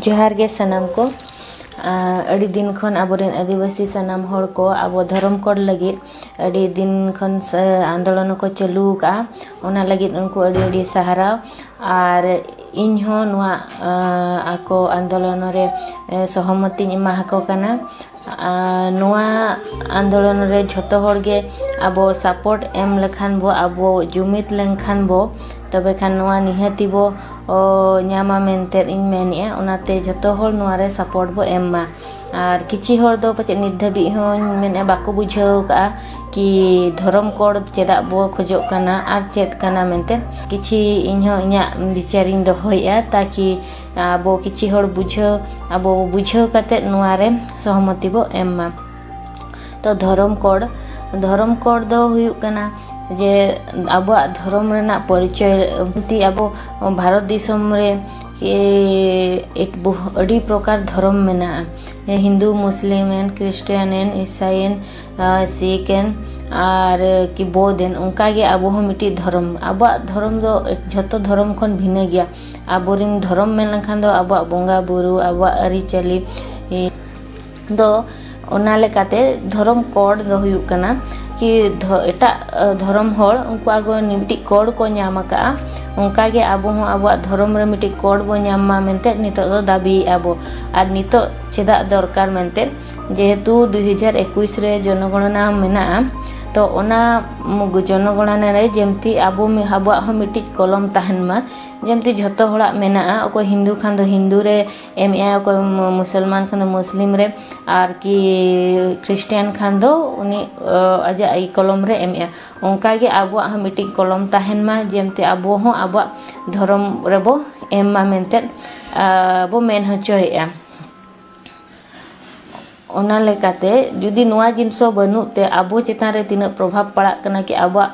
ᱡᱚᱦᱟᱨ ᱜᱮ ᱥᱟᱱᱟᱢ ᱠᱚ ᱟᱹᱰᱤ ᱫᱤᱱ ᱠᱷᱚᱱ ᱟᱵᱚᱨᱮᱱ ᱟᱹᱫᱤᱵᱟᱹᱥᱤ ᱥᱟᱱᱟᱢ ᱦᱚᱲ ᱠᱚ ᱟᱵᱚ ᱫᱷᱚᱨᱚᱢ ᱠᱳᱰ ᱞᱟᱹᱜᱤᱫ ᱟᱹᱰᱤ ᱫᱤᱱ ᱠᱷᱚᱱ ᱟᱱᱫᱳᱞᱚᱱ ᱦᱚᱸᱠᱚ ᱪᱟᱹᱞᱩ ᱟᱠᱟᱫᱼᱟ ᱚᱱᱟ ᱞᱟᱹᱜᱤᱫ ᱩᱱᱠᱩ ᱟᱹᱰᱤ ᱟᱹᱰᱤ ᱥᱟᱨᱦᱟᱣ ᱟᱨ ᱤᱧ ᱦᱚᱸ ᱱᱚᱣᱟ ᱟᱠᱚ ᱟᱱᱫᱳᱞᱚᱱ ᱨᱮ ᱥᱚᱦᱚᱢᱚᱛᱤᱧ ᱮᱢᱟ ᱟᱠᱚ ᱠᱟᱱᱟ ᱟᱨ ᱱᱚᱣᱟ ᱟᱱᱫᱳᱞᱚᱱ ᱨᱮ ᱡᱷᱚᱛᱚ ᱦᱚᱲ ᱜᱮ ᱟᱵᱚ ᱥᱟᱯᱳᱨᱴ ᱮᱢ ᱞᱮᱠᱷᱟᱱ ᱵᱚ ᱟᱵᱚ ᱡᱩᱢᱤᱫ ᱞᱮᱱᱠᱷᱟᱱ ᱵᱚ ᱛᱚᱵᱮ ᱠᱷᱟᱱ ᱱᱚᱣᱟ ᱱᱤᱦᱟᱹᱛᱤ ᱵᱚ ᱧᱟᱢᱟ ᱢᱮᱱᱛᱮ ᱤᱧ ᱢᱮᱱᱮᱫᱼᱟ ᱚᱱᱟᱛᱮ ᱡᱷᱚᱛᱚ ᱦᱚᱲ ᱱᱚᱣᱟ ᱨᱮ ᱥᱟᱯᱳᱨᱴ ᱵᱚ ᱮᱢ ᱢᱟ ᱟᱨ ᱠᱤᱪᱷᱤ ᱦᱚᱲ ᱫᱚ ᱯᱟᱪᱮᱫ ᱱᱤᱛ ᱫᱷᱟᱹᱵᱤᱡ ᱦᱚᱸ ᱢᱮᱱᱮᱫᱼᱟ ᱵᱟᱠᱚ ᱵᱩᱡᱷᱟᱹᱣ ᱠᱟᱜᱼᱟ ᱠᱤ ᱫᱷᱚᱨᱚᱢ ᱠᱳᱰ ᱪᱮᱫᱟᱜ ᱵᱚ ᱠᱷᱚᱡᱚᱜ ᱠᱟᱱᱟ ᱟᱨ ᱪᱮᱫ ᱠᱟᱱᱟ ᱢᱮᱱᱛᱮ ᱠᱤᱪᱷᱤ ᱤᱧ ᱦᱚᱸ ᱤᱧᱟᱹᱜ ᱵᱤᱪᱟᱹᱨ ᱤᱧ ᱫᱚᱦᱚᱭᱮᱫᱼᱟ ᱛᱟᱠᱤ ᱟᱵᱚ ᱠᱤᱪᱷᱤ ᱦᱚᱲ ᱵᱩᱡᱷᱟᱹᱣ ᱟᱵᱚ ᱵᱩᱡᱷᱟᱹᱣ ᱠᱟᱛᱮ ᱱᱚᱣᱟ ᱨᱮ ᱥᱚᱦᱚᱢᱚᱛᱤ ᱵᱚ ᱮᱢ ᱢᱟ ᱛᱚ ᱫᱷᱚᱨᱚᱢ ᱠᱳᱰ ᱫᱷᱚᱨᱚᱢ ᱠᱳᱰ ᱫᱚ ᱦᱩᱭᱩᱜ ᱠᱟᱱᱟ ᱡᱮ ᱟᱵᱚᱣᱟᱜ ᱫᱷᱚᱨᱚᱢ ᱨᱮᱱᱟᱜ ᱯᱚᱨᱤᱪᱚᱭ ᱛᱮ ᱟᱵᱚ ᱵᱷᱟᱨᱚᱛ ᱫᱤᱥᱚᱢ ᱨᱮ ᱟᱹᱰᱤ ᱯᱨᱚᱠᱟᱨ ᱫᱷᱚᱨᱚᱢ ᱢᱮᱱᱟᱜᱼᱟ ᱦᱤᱱᱫᱩ ᱢᱩᱥᱞᱤᱢ ᱮᱱ ᱠᱷᱨᱤᱥᱴᱟᱱ ᱮᱱ ᱤᱥᱟᱭ ᱮᱱ ᱥᱤᱠᱷ ᱮᱱ ᱟᱨ ᱠᱤ ᱵᱳᱫᱷ ᱮᱱ ᱚᱱᱠᱟᱜᱮ ᱟᱵᱚ ᱦᱚᱸ ᱢᱤᱫᱴᱤᱡ ᱫᱷᱚᱨᱚᱢ ᱟᱵᱚᱣᱟᱜ ᱫᱷᱚᱨᱚᱢ ᱫᱚ ᱡᱷᱚᱛᱚ ᱫᱷᱚᱨᱚᱢ ᱠᱷᱚᱱ ᱵᱷᱤᱱᱟᱹ ᱜᱮᱭᱟ ᱟᱵᱚ ᱨᱮᱱ ᱫᱷᱚᱨᱚᱢ ᱢᱮᱱ ᱞᱮᱠᱷᱟᱱ ᱫᱚ ᱟᱵᱚᱣᱟᱜ ᱵᱚᱸᱜᱟᱼᱵᱳᱨᱳ ᱟᱵᱚᱣᱟᱜ ᱟᱹᱨᱤᱪᱟᱹᱞᱤ ᱫᱚ ᱚᱱᱟ ᱞᱮᱠᱟᱛᱮ ᱫᱷᱚᱨᱚᱢ ᱠᱳᱰ ᱫᱚ ᱦᱩᱭᱩᱜ ᱠᱟᱱᱟ ᱠᱤ ᱮᱴᱟᱜ ᱫᱷᱚᱨᱚᱢ ᱦᱚᱲ ᱩᱱᱠᱩᱣᱟᱜ ᱫᱚ ᱢᱤᱫᱴᱤᱡ ᱠᱳᱰ ᱠᱚ ᱧᱟᱢ ᱠᱟᱜᱼᱟ ᱚᱱᱠᱟᱜᱮ ᱟᱵᱚ ᱦᱚᱸ ᱟᱵᱚᱣᱟᱜ ᱫᱷᱚᱨᱚᱢ ᱨᱮ ᱢᱤᱫᱴᱤᱡ ᱠᱳᱰ ᱵᱚᱱ ᱧᱟᱢ ᱢᱟ ᱢᱮᱱᱛᱮ ᱱᱤᱛᱚᱜ ᱫᱚ ᱫᱟᱹᱵᱤᱭᱮᱜᱼᱟ ᱵᱚᱱ ᱟᱨ ᱱᱤᱛᱚᱜ ᱪᱮᱫᱟᱜ ᱫᱚᱨᱠᱟᱨ ᱢᱮᱱᱛᱮ ᱡᱮᱦᱮᱛᱩ ᱫᱩᱭ ᱦᱟᱡᱟᱨ ᱮᱠᱩᱥ ᱨᱮ ᱡᱚᱱᱚ ᱜᱚᱱᱚᱱᱟ ᱢᱮᱱᱟᱜᱼᱟ ᱛᱚ ᱚᱱᱟ ᱡᱚᱱᱚ ᱜᱚᱱᱚᱱᱟ ᱨᱮ ᱡᱮᱢᱛᱤ ᱟᱵᱚ ᱟᱵᱚᱣᱟᱜ ᱦᱚᱸ ᱢᱤᱫᱴᱤᱡ ᱠᱚᱞᱚᱢ ᱛᱟᱦᱮᱱ ᱢᱟ ᱡᱮᱢᱛᱤ ᱡᱷᱚᱛᱚ ᱦᱚᱲᱟᱜ ᱢᱮᱱᱟᱜᱼᱟ ᱚᱠᱚᱭ ᱦᱤᱱᱫᱩ ᱠᱷᱟᱱ ᱫᱚ ᱦᱤᱱᱫᱩ ᱨᱮ ᱮᱢ ᱮᱜ ᱟᱭ ᱚᱠᱚᱭ ᱢᱩᱥᱚᱞᱢᱟᱱ ᱠᱷᱟᱱ ᱫᱚ ᱢᱩᱥᱞᱤᱢ ᱨᱮ ᱟᱨᱠᱤ ᱠᱷᱨᱤᱥᱴᱟᱱ ᱠᱷᱟᱱ ᱫᱚ ᱩᱱᱤ ᱟᱡᱟᱜ ᱠᱚᱞᱚᱢ ᱨᱮ ᱮᱢ ᱮᱜ ᱟᱭ ᱚᱱᱠᱟ ᱜᱮ ᱟᱵᱚᱣᱟᱜ ᱦᱚᱸ ᱢᱤᱫᱴᱤᱡ ᱠᱚᱞᱚᱢ ᱛᱟᱦᱮᱱ ᱢᱟ ᱡᱮᱢᱛᱤ ᱟᱵᱚ ᱦᱚᱸ ᱟᱵᱚᱣᱟᱜ ᱫᱷᱚᱨᱚᱢ ᱨᱮᱵᱚ ᱮᱢ ᱢᱟ ᱢᱮᱱᱛᱮ ᱵᱚ ᱢᱮᱱ ᱦᱚᱪᱚᱭᱮᱜᱼᱟ ᱚᱱᱟ ᱞᱮᱠᱟᱛᱮ ᱡᱩᱫᱤ ᱱᱚᱣᱟ ᱡᱤᱱᱤᱥ ᱦᱚᱸ ᱵᱟᱹᱱᱩᱜ ᱛᱮ ᱟᱵᱚ ᱪᱮᱛᱟᱱ ᱨᱮ ᱛᱤᱱᱟᱹᱜ ᱯᱨᱚᱵᱷᱟᱵᱽ ᱯᱟᱲᱟᱜ ᱠᱟᱱᱟ ᱠᱤ ᱟᱵᱚᱣᱟᱜ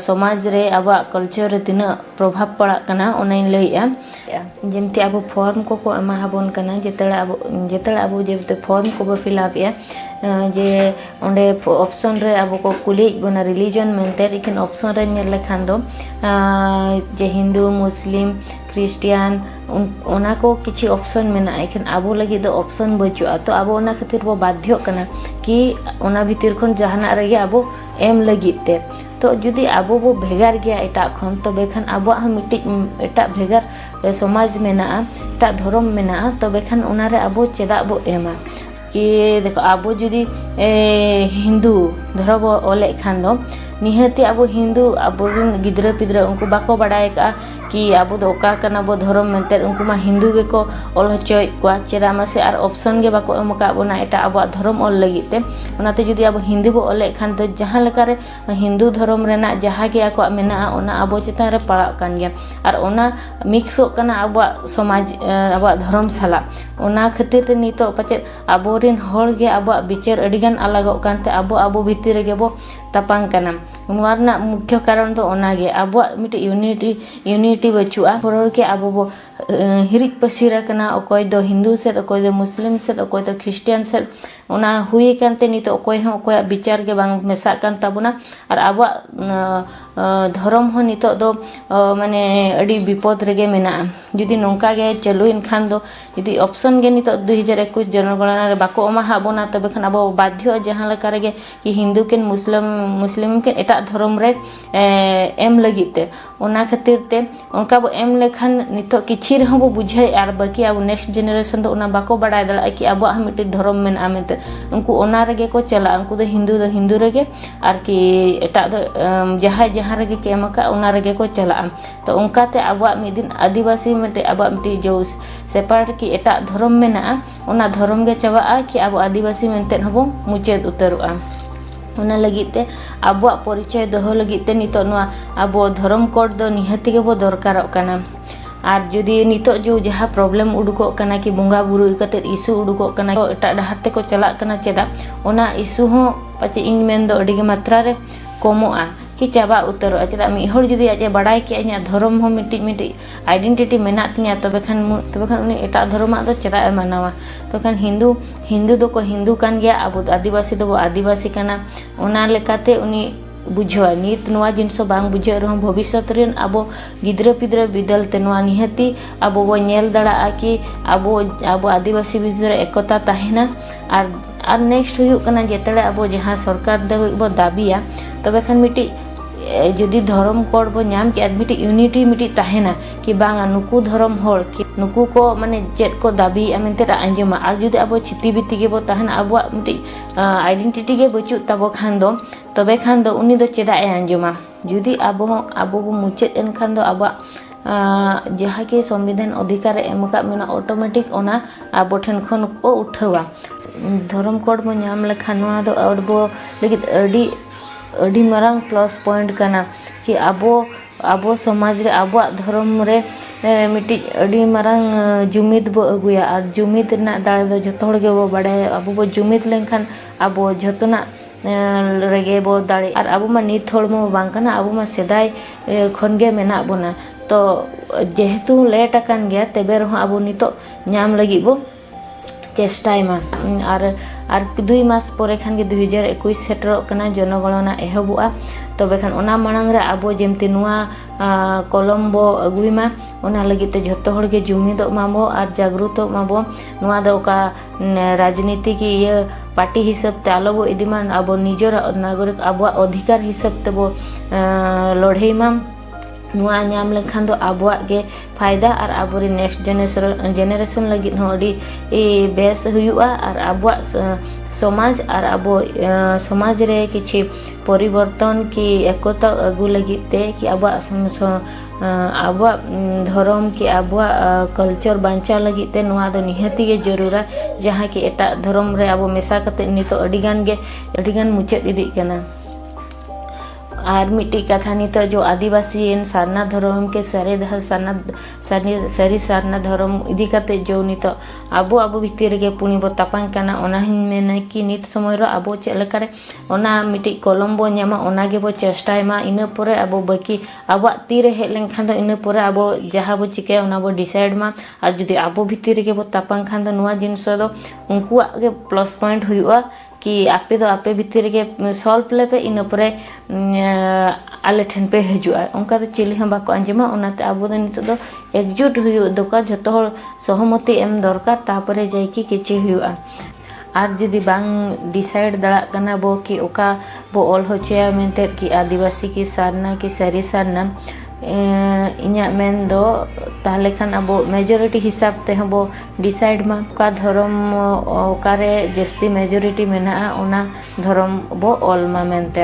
ᱥᱚᱢᱟᱡᱽ ᱨᱮ ᱟᱵᱚᱣᱟᱜ ᱠᱟᱞᱪᱟᱨ ᱨᱮ ᱛᱤᱱᱟᱹᱜ ᱯᱨᱚᱵᱷᱟᱵᱽ ᱯᱟᱲᱟᱜ ᱠᱟᱱᱟ ᱚᱱᱟᱧ ᱞᱟᱹᱭᱮᱫᱼᱟ ᱡᱮᱢᱛᱤ ᱟᱵᱚ ᱯᱷᱚᱨᱢ ᱠᱚᱠᱚ ᱮᱢᱟ ᱟᱵᱚᱱ ᱠᱟᱱᱟ ᱡᱮᱛᱮ ᱦᱚᱲᱟᱜ ᱟᱵᱚ ᱡᱮᱛᱮ ᱦᱚᱲᱟᱜ ᱟᱵᱚ ᱡᱮᱦᱮᱛᱩ ᱯᱷᱚᱨᱢ ᱠᱚᱵᱚ ᱯᱷᱤᱞᱟᱯ ᱮᱫᱼᱟ ᱡᱮ ᱚᱸᱰᱮ ᱚᱯᱷᱥᱮᱱ ᱨᱮ ᱟᱵᱚ ᱠᱚ ᱠᱩᱞᱤᱭᱮᱫ ᱵᱚᱱᱟ ᱨᱤᱞᱤᱡᱚᱱ ᱢᱮᱱᱛᱮ ᱞᱮᱠᱤᱱ ᱚᱯᱷᱥᱮᱱ ᱨᱮ ᱧᱮᱞ ᱞᱮᱠᱷᱟᱱ ᱫᱚ ᱡᱮ ᱦᱤᱱᱫᱩ ᱢᱩᱥᱞᱤᱢ ᱠᱷᱨᱤᱥᱴᱤᱭᱟᱱ ᱚᱱᱟ ᱠᱚ ᱠᱤᱪᱷᱩ ᱚᱯᱥᱚᱱ ᱢᱮᱱᱟᱜᱼᱟ ᱮᱱᱠᱷᱟᱱ ᱟᱵᱚ ᱞᱟᱹᱜᱤᱫ ᱫᱚ ᱚᱯᱥᱚᱱ ᱵᱟᱹᱪᱩᱜᱼᱟ ᱛᱚ ᱟᱵᱚ ᱚᱱᱟ ᱠᱷᱟᱹᱛᱤᱨ ᱵᱚ ᱵᱟᱫᱽᱫᱷᱚᱜ ᱠᱟᱱᱟ ᱠᱤ ᱚᱱᱟ ᱵᱷᱤᱛᱤᱨ ᱠᱷᱚᱱ ᱡᱟᱦᱟᱱᱟᱜ ᱨᱮᱜᱮ ᱟᱵᱚ ᱮᱢ ᱞᱟᱹᱜᱤᱫ ᱛᱮ ᱛᱚ ᱡᱩᱫᱤ ᱟᱵᱚ ᱵᱚ ᱵᱷᱮᱜᱟᱨ ᱜᱮᱭᱟ ᱮᱴᱟᱜ ᱠᱷᱚᱱ ᱛᱚᱵᱮ ᱠᱷᱟᱱ ᱟᱵᱚᱣᱟᱜ ᱦᱚᱸ ᱢᱤᱫᱴᱤᱡ ᱮᱴᱟᱜ ᱵᱷᱮᱜᱟᱨ ᱥᱚᱢᱟᱡᱽ ᱢᱮᱱᱟᱜᱼᱟ ᱮᱴᱟᱜ ᱫᱷᱚᱨᱚᱢ ᱢᱮᱱᱟᱜᱼᱟ ᱛᱚᱵᱮ ᱠᱷᱟᱱ ᱚᱱᱟ ᱨᱮ ᱟᱵᱚ ᱪᱮᱫᱟᱜ ᱵᱚ ᱮᱢᱟ ᱠᱤ ᱫᱮᱠᱷᱚ ᱟᱵᱚ ᱡᱩᱫᱤ ᱦᱤᱱᱫᱩ ᱫᱷᱚᱨᱚᱢ ᱵᱚ ᱚᱞᱮᱫ ᱠᱷᱟᱱ ᱫᱚ ᱱᱤᱦᱟᱹᱛᱤ ᱟᱵᱚ ᱦᱤᱱᱫᱩ ᱟᱵᱚ ᱨᱮᱱ ᱜᱤᱫᱽᱨᱟᱹ ᱯᱤᱫᱽᱨᱟᱹ ᱩᱱᱠᱩ ᱵᱟᱠᱚ ᱵᱟᱲᱟᱭ ᱠᱟᱜᱼᱟ ᱠᱤ ᱟᱵᱚ ᱫᱚ ᱚᱠᱟ ᱠᱟᱱᱟ ᱵᱚ ᱫᱷᱚᱨᱚᱢ ᱢᱮᱱᱛᱮ ᱩᱱᱠᱩ ᱢᱟ ᱦᱤᱱᱫᱩ ᱜᱮᱠᱚ ᱚᱞ ᱦᱚᱪᱚᱭᱮᱫ ᱠᱚᱣᱟ ᱪᱮᱫᱟᱜ ᱢᱟᱥᱮ ᱟᱨ ᱚᱯᱷᱥᱮᱱ ᱜᱮ ᱵᱟᱠᱚ ᱮᱢ ᱠᱟᱜ ᱵᱚᱱᱟ ᱮᱴᱟᱜ ᱟᱵᱚᱣᱟᱜ ᱫᱷᱚᱨᱚᱢ ᱚᱞ ᱞᱟᱹᱜᱤᱫ ᱛᱮ ᱚᱱᱟᱛᱮ ᱡᱩᱫᱤ ᱟᱵᱚ ᱦᱤᱱᱫᱤ ᱵᱚ ᱚᱞᱮᱫ ᱠᱷᱟᱱ ᱫᱚ ᱡᱟᱦᱟᱸ ᱞᱮᱠᱟᱨᱮ ᱦᱤᱱᱫᱩ ᱫᱷᱚᱨᱚᱢ ᱨᱮᱱᱟᱜ ᱡᱟᱦᱟᱸ ᱜᱮ ᱟᱠᱚᱣᱟᱜ ᱢᱮᱱᱟᱜᱼᱟ ᱚᱱᱟ ᱟᱵᱚ ᱪᱮᱛᱟᱱ ᱨᱮ ᱯᱟᱲᱟᱜ ᱠᱟᱱ ᱜᱮᱭᱟ ᱟᱨ ᱚᱱᱟ ᱢᱤᱠᱥᱚᱜ ᱠᱟᱱᱟ ᱟᱵᱚᱣᱟᱜ ᱥᱚᱢᱟᱡᱽ ᱟᱵᱚᱣᱟᱜ ᱫᱷᱚᱨᱚᱢ ᱥᱟᱞᱟᱜ ᱚᱱᱟ ᱠᱷᱟᱹᱛᱤᱨ ᱛᱮ ᱱᱤᱛᱚᱜ ᱯᱟᱪᱮᱫ ᱟᱵᱚ ᱨᱮᱱ ᱦᱚᱲ ᱜᱮ ᱟᱵᱚᱣᱟᱜ ᱵᱤᱪᱟᱹᱨ ᱟᱹᱰᱤ ᱜᱟᱱ ᱟᱞᱟᱜᱚᱜ ᱠᱟᱱ ᱛᱮ ᱟᱵᱚ ᱟᱵᱚ ᱵᱷᱤᱛᱤᱨ ᱨᱮᱜᱮ ᱵᱚ ᱛᱟᱯᱟᱢ ᱠᱟᱱᱟ ᱱᱚᱣᱟ ᱨᱮᱱᱟᱜ ᱢᱩᱠᱠᱷᱚ ᱠᱟᱨᱚᱱ ᱫᱚ ᱚᱱᱟ ᱜᱮ ᱟᱵᱚᱣᱟᱜ ᱢᱤᱫᱴᱤᱡ ᱤᱭᱩᱱᱤᱴᱤ ᱤᱭᱩᱱᱤᱴᱤ ᱵᱟᱹᱪᱩᱜᱼᱟ ᱟᱵᱚ ᱦᱚᱲ ᱜᱮ ᱟᱵᱚ ᱵᱚ ᱦᱤᱨᱤᱡ ᱯᱟᱹᱥᱤᱨ ᱟᱠᱟᱱᱟ ᱚᱠᱚᱭ ᱫᱚ ᱦᱤᱱᱫᱩ ᱥᱮᱫ ᱚᱠᱚᱭ ᱫᱚ ᱢᱩᱥᱞᱤᱢ ᱥᱮᱫ ᱚᱠᱚᱭ ᱫᱚ ᱠᱷᱨᱤᱥᱴᱟᱱ ᱥᱮᱫ ᱚᱱᱟ ᱦᱩᱭ ᱟᱠᱟᱱ ᱛᱮ ᱱᱤᱛᱚᱜ ᱚᱠᱚᱭ ᱦᱚᱸ ᱚᱠᱚᱭᱟᱜ ᱵᱤᱪᱟᱨ ᱜᱮ ᱵᱟᱝ ᱢᱮᱥᱟᱜ ᱠᱟᱱ ᱛᱟᱵᱚᱱᱟ ᱟᱨ ᱟᱵᱚᱣᱟᱜ ᱫᱷᱚᱨᱚᱢ ᱦᱚᱸ ᱱᱤᱛᱚᱜ ᱫᱚ ᱢᱟᱱᱮ ᱟᱹᱰᱤ ᱵᱤᱯᱚᱫᱽ ᱨᱮᱜᱮ ᱢᱮᱱᱟᱜᱼᱟ ᱡᱩᱫᱤ ᱱᱚᱝᱠᱟ ᱜᱮ ᱪᱟᱹᱞᱩᱭᱮᱱ ᱠᱷᱟᱱ ᱫᱚ ᱡᱩᱫᱤ ᱚᱯᱷᱥᱮᱱ ᱜᱮ ᱱᱤᱛᱚᱜ ᱫᱩ ᱦᱟᱡᱟᱨ ᱮᱠᱩᱥ ᱡᱚᱱᱚ ᱜᱚᱱᱚᱱᱟ ᱨᱮ ᱵᱟᱠᱚ ᱮᱢᱟ ᱦᱟᱜ ᱵᱚᱱᱟ ᱛᱚᱵᱮ ᱠᱷᱟᱱ ᱟᱵᱚ ᱵᱟᱫᱽᱫᱷᱚ ᱡᱟᱦᱟᱸ ᱞᱮᱠᱟ ᱨᱮᱜᱮ ᱠᱤ ᱦᱤᱱᱫᱩ ᱠᱤᱱ ᱢᱩᱥᱞᱟᱹᱢ ᱢᱩᱥᱞᱤᱢ ᱠᱤᱱ ᱮᱴᱟᱜ ᱫᱷᱚᱨᱚᱢ ᱨᱮ ᱮᱢ ᱞᱟᱹᱜᱤᱫ ᱛᱮ ᱚᱱᱟ ᱠᱷᱟᱹᱛᱤᱨ ᱛᱮ ᱚᱱᱠᱟ ᱵᱚ ᱮᱢ ᱞᱮᱠᱷᱟᱱ ᱱᱤᱛᱚᱜ ᱠᱤᱪᱷᱤ ᱨᱮᱦᱚᱸ ᱵᱚ ᱵᱩᱡᱷᱟᱹᱣᱮᱜᱼᱟ ᱟᱨ ᱵᱟᱹᱠᱤ ᱟᱵᱚ ᱱᱮᱠᱥᱴ ᱡᱮᱱᱟᱨᱮᱥᱚᱱ ᱫᱚ ᱚᱱᱟ ᱵᱟᱠᱚ ᱵᱟᱲᱟᱭ ᱫᱟᱲᱮᱭᱟᱜᱼᱟ ᱠᱤ ᱟᱵᱚᱣᱟᱜ ᱦᱚᱸ ᱢᱤᱫᱴᱤᱡ ᱫᱷᱚᱨᱚᱢ ᱢᱮᱱᱟᱜᱼᱟ ᱢᱮᱱᱛᱮ ᱩᱱᱠᱩ ᱚᱱᱟ ᱨᱮᱜᱮ ᱠᱚ ᱪᱟᱞᱟᱜᱼᱟ ᱩᱱᱠᱩ ᱫᱚ ᱦᱤᱱᱫᱩ ᱫᱚ ᱦᱤᱱᱫᱩ ᱨᱮᱜᱮ ᱟᱨ ᱠᱤ ᱮᱴᱟᱜ ᱫᱚ ᱡᱟᱦᱟᱸᱭ ᱡᱟᱦᱟᱸ ᱨᱮᱜᱮ ᱠᱚ ᱮᱢ ᱠᱟᱜ ᱚᱱᱟ ᱨᱮᱜᱮ ᱠᱚ ᱪᱟᱞᱟᱜᱼᱟ ᱛᱚ ᱚᱱᱠᱟᱛᱮ ᱟᱵᱚᱣᱟᱜ ᱢᱤᱫ ᱫᱤᱱ ᱟᱹᱫᱤᱵᱟᱹᱥᱤ ᱢᱤᱫᱴᱤᱡ ᱟᱵᱚᱣᱟᱜ ᱢᱤᱫᱴᱤᱡ ᱡᱚᱥ ᱥᱮᱯᱟᱨᱴ ᱠᱤ ᱮᱴᱟᱜ ᱫᱷᱚᱨᱚᱢ ᱢᱮᱱᱟᱜᱼᱟ ᱚᱱᱟ ᱫᱷᱚᱨᱚᱢ ᱜᱮ ᱪᱟᱵᱟᱜᱼᱟ ᱠᱤ ᱟᱵᱚ ᱟᱹᱫᱤᱵᱟᱹᱥᱤ ᱢᱮᱱᱛᱮ ᱦᱚᱸᱵᱚᱱ ᱢᱩᱪᱟᱹᱫ ᱩᱛᱟᱹᱨᱚᱜᱼᱟ ᱚᱱᱟ ᱞᱟᱹᱜᱤᱫ ᱛᱮ ᱟᱵᱚᱣᱟᱜ ᱯᱚᱨᱤᱪᱚᱭ ᱫᱚᱦᱚ ᱞᱟᱹᱜᱤᱫ ᱛᱮ ᱱᱤᱛᱚᱜ ᱱᱚᱣᱟ ᱟᱵᱚ ᱫᱷᱚᱨᱚᱢ ᱠᱳᱰ ᱫᱚ ᱱᱤᱦᱟᱹᱛ ᱜᱮᱵᱚ ᱫᱚᱨᱠᱟᱨᱚᱜ ᱠᱟᱱᱟ ᱟᱨ ᱡᱩᱫᱤ ᱱᱤᱛᱚᱜ ᱡᱮ ᱡᱟᱦᱟᱸ ᱯᱨᱚᱵᱞᱮᱢ ᱩᱰᱩᱠᱚᱜ ᱠᱟᱱᱟ ᱠᱤ ᱵᱚᱸᱜᱟ ᱵᱩᱨᱩ ᱤᱫᱤ ᱠᱟᱛᱮ ᱤᱥᱩ ᱩᱰᱩᱠᱚᱜ ᱠᱟᱱᱟ ᱮᱴᱟᱜ ᱰᱟᱦᱟᱨ ᱛᱮᱠᱚ ᱪᱟᱞᱟᱜ ᱠᱟᱱᱟ ᱪᱮᱫᱟᱜ ᱚᱱᱟ ᱤᱥᱩ ᱦᱚᱸ ᱯᱟᱪᱮ ᱤᱧ ᱢᱮᱱ ᱫᱚ ᱟᱹᱰᱤ ᱜᱮ ᱢᱟᱛᱨᱟ ᱨᱮ ᱠᱚᱢᱚᱜᱼᱟ ᱠᱤ ᱪᱟᱵᱟ ᱩᱛᱟᱹᱨᱚᱜᱼᱟ ᱪᱮᱫᱟᱜ ᱢᱤᱫ ᱦᱚᱲ ᱡᱩᱫᱤ ᱟᱡ ᱮ ᱵᱟᱲᱟᱭ ᱠᱮᱜᱼᱟ ᱤᱧᱟᱹᱜ ᱫᱷᱚᱨᱚᱢ ᱦᱚᱸ ᱢᱤᱫᱴᱤᱡ ᱢᱤᱫᱴᱤᱡ ᱟᱭᱰᱮᱱᱴᱤᱴᱤ ᱢᱮᱱᱟᱜ ᱛᱤᱧᱟᱹ ᱛᱚᱵᱮ ᱠᱷᱟᱱ ᱛᱚᱵᱮ ᱠᱷᱟᱱ ᱩᱱᱤ ᱮᱴᱟᱜ ᱫᱷᱚᱨᱚᱢᱟᱜ ᱫᱚ ᱪᱮᱫᱟᱜ ᱮ ᱢᱟᱱᱟᱣᱟ ᱛᱚᱵᱮ ᱠᱷᱟᱱ ᱦᱤᱱᱫᱩ ᱦᱤᱱᱫᱩ ᱫᱚᱠᱚ ᱦᱤᱱᱫᱩ ᱠᱟᱱ ᱜᱮᱭᱟ ᱟᱵᱚ ᱟᱹᱫᱤᱵᱟᱹᱥᱤ ᱫᱚᱵᱚᱱ ᱟᱹᱫᱤᱵᱟᱹᱥᱤ ᱠᱟᱱᱟ ᱚᱱᱟ ᱞᱮᱠᱟᱛᱮ ᱩᱱᱤ ᱵᱩᱡᱷᱟᱹᱣᱟᱭ ᱱᱤᱛ ᱱᱚᱣᱟ ᱡᱤᱱᱤᱥ ᱦᱚᱸ ᱵᱟᱝ ᱵᱩᱡᱷᱟᱹᱜ ᱨᱮᱦᱚᱸ ᱵᱷᱚᱵᱤᱥᱥᱚᱛ ᱨᱮᱱ ᱟᱵᱚ ᱜᱤᱫᱽᱨᱟᱹ ᱯᱤᱫᱽᱨᱟᱹ ᱵᱤᱫᱟᱹᱞ ᱛᱮ ᱱᱚᱣᱟ ᱱᱤᱦᱟᱹᱛᱤ ᱟᱵᱚ ᱵᱚᱱ ᱧᱮᱞ ᱫᱟᱲᱮᱭᱟᱜᱼᱟ ᱠᱤ ᱟᱵᱚ ᱟᱵᱚ ᱟᱹᱫᱤᱵᱟᱹᱥᱤ ᱵᱷᱤᱛᱨᱤ ᱨᱮ ᱮᱠᱚᱛᱟ ᱛᱟᱦᱮᱱᱟ ᱟᱨ ᱟᱨ ᱱᱮᱠᱥᱴ ᱦᱩᱭᱩᱜ ᱠᱟᱱᱟ ᱡᱮᱛᱮᱲᱮ ᱟᱵᱚ ᱡᱟᱦᱟᱸ ᱥᱚᱨᱠᱟᱨ ᱫᱚ ᱵᱚ ᱫᱟᱹᱵᱤᱭᱟ ᱛᱚᱵᱮ ᱠᱷᱟᱱ ᱢᱤᱫᱴᱤᱡ ᱡᱩᱫᱤ ᱫᱷᱚᱨᱚᱢ ᱠᱳᱰ ᱵᱚ ᱧᱟᱢ ᱠᱮᱜᱼᱟ ᱢᱤᱫᱴᱤᱡ ᱤᱭᱩᱱᱤᱴᱤ ᱢᱤᱫᱴᱤᱡ ᱛᱟᱦᱮᱱᱟ ᱠᱤ ᱵᱟᱝᱟ ᱱᱩᱠᱩ ᱫᱷᱚᱨᱚᱢ ᱦᱚᱲ ᱠᱤ ᱱᱩᱠᱩ ᱠᱚ ᱢᱟᱱᱮ ᱪᱮᱫ ᱠᱚ ᱫᱟᱹᱵᱤᱭᱮᱜᱼᱟ ᱢᱮᱱᱛᱮ ᱟᱸᱡᱚᱢᱟ ᱟᱨ ᱡᱩᱫᱤ ᱟᱵᱚ ᱪᱷᱤᱛᱤ ᱵᱤᱛᱤ ᱜᱮᱵᱚ ᱛᱟᱦᱮᱱᱟ ᱟᱵᱚᱣᱟᱜ ᱢᱤᱫᱴᱤᱡ ᱟᱭᱰᱮᱱᱴᱤᱴᱤ ᱜᱮ ᱵᱟᱹᱪᱩᱜ ᱛᱟᱵᱚ ᱠᱷᱟᱱ ᱫᱚ ᱛᱚᱵᱮ ᱠᱷᱟᱱ ᱫᱚ ᱩᱱᱤ ᱫᱚ ᱪᱮᱫᱟᱜ ᱮ ᱟᱸᱡᱚᱢᱟ ᱡᱩᱫᱤ ᱟᱵᱚ ᱦᱚᱸ ᱟᱵᱚ ᱵᱚᱱ ᱢᱩᱪᱟᱹᱫ ᱮᱱ ᱠᱷᱟᱱ ᱫᱚ ᱟᱵᱚᱣᱟᱜ ᱡᱟᱦᱟᱸ ᱜᱮ ᱥᱚᱝᱵᱤᱫᱷᱟᱱ ᱚᱫᱷᱤᱠᱟᱨᱮ ᱮᱢ ᱟᱠᱟᱫ ᱵᱚᱱᱟ ᱚᱴᱳᱢᱮᱴᱤᱠ ᱚᱱᱟ ᱟᱵᱚ ᱴᱷᱮᱱ ᱠᱷᱚᱱ ᱠᱚ ᱩᱴᱷᱟᱹᱣᱟ ᱫᱷᱚᱨᱚᱢ ᱠᱳᱰ ᱵᱚᱱ ᱧᱟᱢ ᱞᱮᱠᱷᱟᱱ ᱱᱚᱣᱟ ᱫᱚ ᱟᱵᱚ ᱞᱟᱹᱜᱤᱫ ᱟᱹᱰᱤ ᱟᱹᱰᱤ ᱢᱟᱨᱟᱝ ᱯᱞᱟᱥ ᱯᱚᱭᱮᱱᱴ ᱠᱟᱱᱟ ᱠᱤ ᱟᱵᱚ ᱟᱵᱚ ᱥᱚᱢᱟᱡᱽ ᱨᱮ ᱟᱵᱚᱣᱟᱜ ᱫᱷᱚᱨᱚᱢ ᱨᱮ ᱢᱤᱫᱴᱤᱡ ᱟᱹᱰᱤ ᱢᱟᱨᱟᱝ ᱡᱩᱢᱤᱫ ᱵᱚᱱ ᱟᱹᱜᱩᱭᱟ ᱟᱨ ᱡᱩᱢᱤᱫ ᱨᱮᱱᱟᱜ ᱫᱟᱲᱮ ᱫᱚ ᱡᱚᱛᱚ ᱦᱚᱲ ᱜᱮᱵᱚᱱ ᱵᱟᱲᱟᱭᱟ ᱟᱵᱚ ᱵᱚᱱ ᱡᱩᱢᱤᱫ ᱞᱮᱱᱠᱷᱟᱱ ᱟᱵᱚ ᱡᱚᱛᱚᱱᱟᱜ ᱨᱮᱜᱮ ᱵᱚ ᱫᱟᱲᱮᱜ ᱟᱨ ᱟᱵᱚ ᱢᱟ ᱱᱤᱛ ᱦᱚᱲ ᱢᱟ ᱵᱟᱝ ᱠᱟᱱᱟ ᱟᱵᱚ ᱢᱟ ᱥᱮᱫᱟᱭ ᱠᱷᱚᱱ ᱜᱮ ᱢᱮᱱᱟᱜ ᱵᱚᱱᱟ ᱛᱚ ᱡᱮᱦᱮᱛᱩ ᱞᱮᱴ ᱟᱠᱟᱱ ᱜᱮᱭᱟ ᱛᱚᱵᱮ ᱨᱮᱦᱚᱸ ᱟᱵᱚ ᱱᱤᱛᱚᱜ ᱧᱟᱢ ᱞᱟᱹᱜᱤᱫ ᱵᱚ ᱪᱮᱥᱴᱟᱭ ᱢᱟ ᱟᱨ ᱟᱨ ᱫᱩᱭ ᱢᱟᱥ ᱯᱚᱨᱮ ᱠᱷᱟᱱ ᱜᱮ ᱫᱩ ᱦᱟᱡᱟᱨ ᱮᱠᱩᱥ ᱥᱮᱴᱮᱨᱚᱜ ᱠᱟᱱᱟ ᱡᱚᱱᱚ ᱜᱚᱱᱚᱱᱟ ᱮᱦᱚᱵᱚᱜᱼᱟ ᱛᱚᱵᱮ ᱠᱷᱟᱱ ᱚᱱᱟ ᱢᱟᱲᱟᱝ ᱨᱮ ᱟᱵᱚ ᱡᱮᱢᱛᱤ ᱱᱚᱣᱟ ᱠᱚᱞᱚᱢ ᱵᱚ ᱟᱹᱜᱩᱭ ᱢᱟ ᱚᱱᱟ ᱞᱟᱹᱜᱤᱫ ᱛᱮ ᱡᱚᱛᱚ ᱦᱚᱲ ᱜᱮ ᱡᱩᱢᱤᱫᱚᱜ ᱢᱟᱵᱚ ᱟᱨ ᱡᱟᱜᱽᱨᱩᱛᱚᱜ ᱢᱟᱵᱚ ᱱᱚᱣᱟ ᱫᱚ ᱚᱠᱟ ᱨᱟᱡᱽᱱᱤᱛᱤ ᱠᱤ ᱤᱭᱟᱹ ᱯᱟᱴᱤ ᱦᱤᱥᱟᱹᱵ ᱛᱮ ᱟᱞᱚ ᱵᱚ ᱤᱫᱤ ᱢᱟ ᱟᱵᱚ ᱱᱤᱡᱮᱨᱟᱜ ᱱᱟᱜᱚᱨᱤᱠ ᱟᱵᱚᱣᱟᱜ ᱚᱫᱷᱤᱠᱟᱨ ᱦᱤᱥᱟᱹᱵ ᱛᱮᱵᱚ ᱞᱟᱹᱲᱦᱟᱹᱭ ᱢᱟ ᱱᱚᱣᱟ ᱧᱟᱢ ᱞᱮᱠᱷᱟᱱ ᱫᱚ ᱟᱵᱚᱣᱟᱜ ᱜᱮ ᱯᱷᱟᱭᱫᱟ ᱟᱨ ᱟᱵᱚ ᱨᱮᱱ ᱱᱮᱠᱥᱴ ᱡᱮᱱᱟᱨᱮᱥᱚᱱ ᱞᱟᱹᱜᱤᱫ ᱦᱚᱸ ᱟᱹᱰᱤ ᱵᱮᱥ ᱦᱩᱭᱩᱜᱼᱟ ᱟᱨ ᱟᱵᱚᱣᱟᱜ ᱥᱚᱢᱟᱡᱽ ᱟᱨ ᱟᱵᱚ ᱥᱚᱢᱟᱡᱽ ᱨᱮ ᱠᱤᱪᱷᱤ ᱯᱚᱨᱤᱵᱚᱨᱛᱚᱱ ᱠᱤ ᱮᱠᱚᱛᱟ ᱟᱹᱜᱩ ᱞᱟᱹᱜᱤᱫ ᱛᱮ ᱠᱤ ᱟᱵᱚᱣᱟᱜ ᱟᱵᱚᱣᱟᱜ ᱫᱷᱚᱨᱚᱢ ᱠᱤ ᱟᱵᱚᱣᱟᱜ ᱠᱟᱞᱪᱟᱨ ᱵᱟᱧᱪᱟᱣ ᱞᱟᱹᱜᱤᱫ ᱛᱮ ᱱᱚᱣᱟ ᱫᱚ ᱱᱤᱦᱟᱹᱛ ᱜᱮ ᱡᱟᱹᱨᱩᱲᱟ ᱡᱟᱦᱟᱸ ᱠᱤ ᱮᱴᱟᱜ ᱫᱷᱚᱨᱚᱢ ᱨᱮ ᱟᱵᱚ ᱢᱮᱥᱟ ᱠᱟᱛᱮ ᱱᱤᱛᱚᱜ ᱟᱹᱰᱤ ᱜᱟᱱ ᱜᱮ ᱟᱹᱰᱤ ᱜᱟᱱ ᱢᱩᱪᱟᱹᱫ ᱤᱫᱤᱜ ᱠᱟᱱᱟ ᱟᱨ ᱢᱤᱫᱴᱤᱡ ᱠᱟᱛᱷᱟ ᱱᱤᱛᱚᱜ ᱡᱚ ᱟᱹᱫᱤᱵᱟᱹᱥᱤ ᱭᱮᱱ ᱥᱟᱨᱱᱟ ᱫᱷᱚᱨᱚᱢ ᱠᱤ ᱥᱟᱹᱨᱤ ᱥᱟᱨᱱᱟ ᱥᱟᱹᱨᱤ ᱥᱟᱹᱨᱤ ᱥᱟᱨᱱᱟ ᱫᱷᱚᱨᱚᱢ ᱤᱫᱤ ᱠᱟᱛᱮ ᱡᱚ ᱱᱤᱛᱚᱜ ᱟᱵᱚ ᱟᱵᱚ ᱵᱷᱤᱛᱤᱨ ᱨᱮᱜᱮ ᱯᱩᱱ ᱵᱚ ᱛᱟᱯᱟᱢ ᱠᱟᱱᱟ ᱚᱱᱟ ᱦᱚᱸᱧ ᱢᱮᱱᱟ ᱠᱤ ᱱᱤᱛ ᱥᱚᱢᱚᱭ ᱨᱮ ᱟᱵᱚ ᱪᱮᱫ ᱞᱮᱠᱟ ᱨᱮ ᱚᱱᱟ ᱢᱤᱫᱴᱤᱡ ᱠᱚᱞᱚᱢ ᱵᱚᱱ ᱧᱟᱢᱟ ᱚᱱᱟ ᱜᱮᱵᱚᱱ ᱪᱮᱥᱴᱟᱭ ᱢᱟ ᱤᱱᱟᱹ ᱯᱚᱨᱮ ᱟᱵᱚ ᱵᱟᱹᱠᱤ ᱟᱵᱚᱣᱟᱜ ᱛᱤ ᱨᱮ ᱦᱮᱡ ᱞᱮᱱᱠᱷᱟᱱ ᱫᱚ ᱤᱱᱟᱹ ᱯᱚᱨᱮ ᱟᱵᱚ ᱡᱟᱦᱟᱸ ᱵᱚᱱ ᱪᱤᱠᱟᱹᱭᱟ ᱚᱱᱟ ᱵᱚᱱ ᱰᱤᱥᱟᱭᱤᱰ ᱢᱟ ᱟᱨ ᱡᱩᱫᱤ ᱟᱵᱚ ᱵᱷᱤᱛᱤᱨ ᱨᱮᱜᱮ ᱵᱚᱱ ᱛᱟᱯᱟᱢ ᱠᱷᱟᱱ ᱫᱚ ᱱᱚᱣᱟ ᱡᱤᱱᱤᱥ ᱨᱮᱫᱚ ᱩᱱᱠᱩᱣᱟᱜ ᱜᱮ ᱯᱞᱟᱥ ᱯᱚᱭᱮᱱᱴ ᱦᱩᱭᱩᱜᱼᱟ ᱠᱤ ᱟᱯᱮ ᱫᱚ ᱟᱯᱮ ᱵᱷᱤᱛᱤᱨ ᱨᱮᱜᱮ ᱥᱚᱞᱵᱷ ᱞᱮᱯᱮ ᱤᱱᱟᱹ ᱯᱚᱨᱮ ᱟᱞᱮ ᱴᱷᱮᱱ ᱯᱮ ᱦᱤᱡᱩᱜᱼᱟ ᱚᱱᱠᱟ ᱫᱚ ᱪᱤᱞᱤ ᱦᱚᱸ ᱵᱟᱠᱚ ᱟᱸᱡᱚᱢᱟ ᱚᱱᱟᱛᱮ ᱟᱵᱚ ᱫᱚ ᱱᱤᱛᱚᱜ ᱫᱚ ᱮᱠᱡᱩᱴ ᱦᱩᱭᱩᱜ ᱫᱚᱨᱠᱟᱨ ᱡᱷᱚᱛᱚ ᱦᱚᱲ ᱥᱚᱦᱚᱢᱚᱛᱤ ᱮᱢ ᱫᱚᱨᱠᱟᱨ ᱛᱟᱨᱯᱚᱨᱮ ᱡᱟᱭ ᱠᱤ ᱠᱤᱪᱷᱩ ᱦᱩᱭᱩᱜᱼᱟ ᱟᱨ ᱡᱩᱫᱤ ᱵᱟᱝ ᱰᱤᱥᱟᱭᱤᱰ ᱫᱟᱲᱮᱭᱟᱜ ᱠᱟᱱᱟ ᱵᱚ ᱠᱤ ᱚᱠᱟ ᱵᱚ ᱚᱞ ᱦᱚᱪᱚᱭᱟ ᱢᱮᱱᱛᱮ ᱠᱤ ᱟᱹᱫᱤᱵᱟᱹᱥᱤ ᱠᱤ ᱥᱟᱨᱱᱟ ᱠᱤ ᱥᱟᱹᱨᱤ ᱥᱟᱨᱱᱟ ᱤᱧᱟᱹᱜ ᱢᱮᱱ ᱫᱚ ᱛᱟᱦᱚᱞᱮ ᱠᱷᱟᱱ ᱟᱵᱚ ᱢᱮᱡᱚᱨᱤᱴᱤ ᱦᱤᱥᱟᱹᱵ ᱛᱮᱦᱚᱸ ᱵᱚ ᱰᱤᱥᱟᱭᱤᱰ ᱢᱟ ᱚᱠᱟ ᱫᱷᱚᱨᱚᱢ ᱚᱠᱟᱨᱮ ᱡᱟᱹᱥᱛᱤ ᱢᱮᱡᱚᱨᱤᱴᱤ ᱢᱮᱱᱟᱜᱼᱟ ᱚᱱᱟ ᱫᱷᱚᱨᱚᱢ ᱵᱚ ᱚᱞ ᱢᱟ ᱢᱮᱱᱛᱮ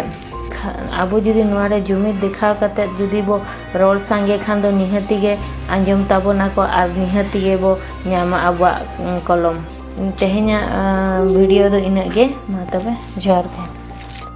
ᱟᱵᱚ ᱡᱩᱫᱤ ᱱᱚᱣᱟ ᱨᱮ ᱡᱩᱢᱤᱫ ᱫᱮᱠᱷᱟᱣ ᱠᱟᱛᱮ ᱡᱩᱫᱤ ᱵᱚ ᱨᱚᱲ ᱥᱟᱸᱜᱮ ᱠᱷᱟᱱ ᱫᱚ ᱱᱤᱦᱟᱹᱛ ᱜᱮ ᱟᱸᱡᱚᱢ ᱛᱟᱵᱚᱱᱟ ᱠᱚ ᱟᱨ ᱱᱤᱦᱟᱹᱛ ᱜᱮᱵᱚ ᱧᱟᱢᱟ ᱟᱵᱚᱣᱟᱜ ᱠᱚᱞᱚᱢ ᱛᱮᱦᱮᱧᱟᱜ ᱵᱷᱤᱰᱤᱭᱳ ᱫᱚ ᱤᱱᱟᱹᱜ ᱜᱮ ᱢᱟ ᱛᱚᱵᱮ ᱡᱚᱦᱟᱨ ᱜᱮ